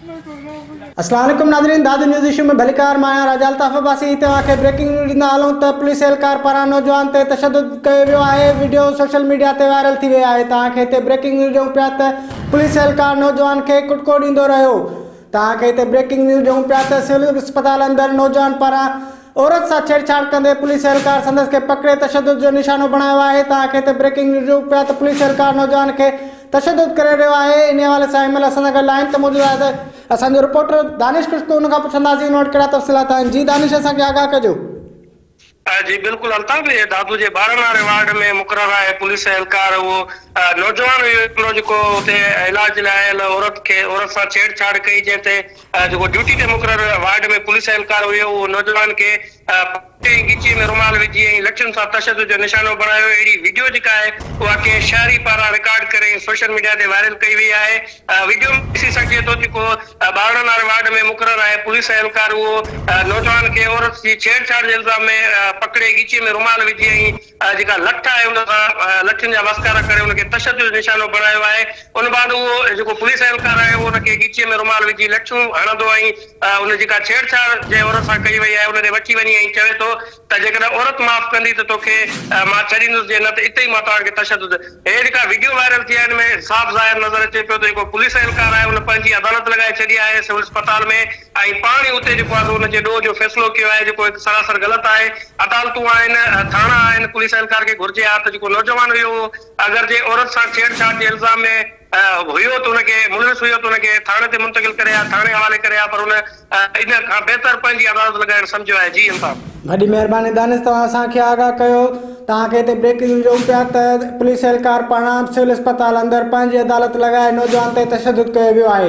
السلام عليڪم ناظرين داد نيوز ايشو ۾ ڀليڪار مان آهيان راجا الطاف عباسي توهان کي بريڪنگ نيوز ڏيندا هلون ته پوليس اهلڪار پاران نوجوان تي تشدد ڪيو ويو آهي وڊيو سوشل ميڊيا تي وائرل ٿي وئي آهي توهان کي هتي بريڪنگ نيوز ڏيون پيا ته پوليس اهلڪار نوجوان کي ڪٽڪو ڏيندو رهيو توهان کي هتي بريڪنگ نيوز ڏيون پيا ته سول اسپتال اندر نوجوان پاران عورت سان ڇيڙ ڇاڙ ڪندي پوليس اهلڪار سندس کي پڪڙي تشدد جو نشانو بڻايو آهي ته آخر تي بريڪنگ نيوز جو پيا ته پوليس اهلڪار نوجوان کي تشدد ڪري رهيو آهي انهي حوالي سان ايم ايل اسان سان گڏ آهن ته موجوده آهي ته اسان جو رپورٽر دانش خشڪو ان کان پڇنداسين ان وٽ ڪهڙا تفصيلات آهن جي دانش اسان کي آگاهه ڪجو. جي بلڪل الطاف دادو جي ٻارهن واري وارڊ ۾ مقرر آهي پوليس اهلڪار اهو نوجوان هيو هڪڙو جيڪو اتي علاج لاء آيل عورت کي عورت سان ڇيڙ ڇاڙ ڪئي جنهن تي جيڪو ڊيوٽي تي مقرر وارڊ ۾ پوليس اهلڪار هيو اهو نوجوان کي پٽي ۽ ڳچيء ۾ رومال وجهي ۽ لٺين سان تشدد جو نشانو بڻايو اهڙي وڊيو جيڪا آهي اها ڪنهن شهري پاران رڪارڊ ڪري ۽ سوشل ميڊيا تي وائرل ڪئي وئي آهي وڊيو ۾ ڏسي سگهجي ٿو جيڪو ٻارڙن واري وارڊ ۾ مقرر آهي پوليس اهلڪار اهو نوجوان کي عورت جي ڇيڙڇاڙ جي الزام ۾ پڪڙي ڳچيء ۾ رومال وجهي ۽ جيڪا لٺ آهي ان سان لٺين جا وسڪارا ڪري ان کي تشدد جو نشانو بڻايو آهي ان بعد اهو جيڪو پوليس اهلڪار آهي اهو ان کي ڳچيء ۾ رومال وجهي لٺيون هڻندو ۽ ان جيڪا ڇيڙ ڇاڙ جنهن عورت سان ڪئي وئي آهي ان ڏي وٺي وڃي ۽ چوي ٿو ته جيڪڏهن عورت معاف ڪندي ته توکي مان ڇڏيندس جي نه ته اتي ئي مان توهان کي تشدد هي جيڪا وڊيو وائرل ٿي آهي ان ۾ صاف ظاهر نظر اچي پيو ته جيڪو پوليس اهلڪار آهي ان پنهنجي عدالت لڳائي ڇڏي آهي سول اسپتال ۾ ۽ پاڻ ئي اتي جيڪو آهي سو ان جي ڏوهه جو فيصلو ڪيو آهي جيڪو هڪ سراسر غلط آهي. عدالتون آهن، ٿاڻا آهن، پوليس اهلڪار کي گهرجي ها ته جيڪو نوجوان هيو اهو اگر جي عورت سان ڇيڙ ڇاڙ جي الزام ۾ هيو ته ان کي ملوث هيو ته ان کي ٿاڻي تي منتقل ڪري ها، ٿاڻي حوالي ڪري ها پر هن ان کان بهتر پنهنجي عدالت لڳائڻ سمجهيو آهي. جي الطاف. وڏي مهرباني دانش توهان اسان کي آگاهه ڪيو توهان کي هتي بريڪنگ نيوز ڏيون پيا ته پوليس اهلڪار پاران سول اسپتال اندر پنهنجي عدالت لڳائي نوجوان تي تشدد ڪيو ويو آهي.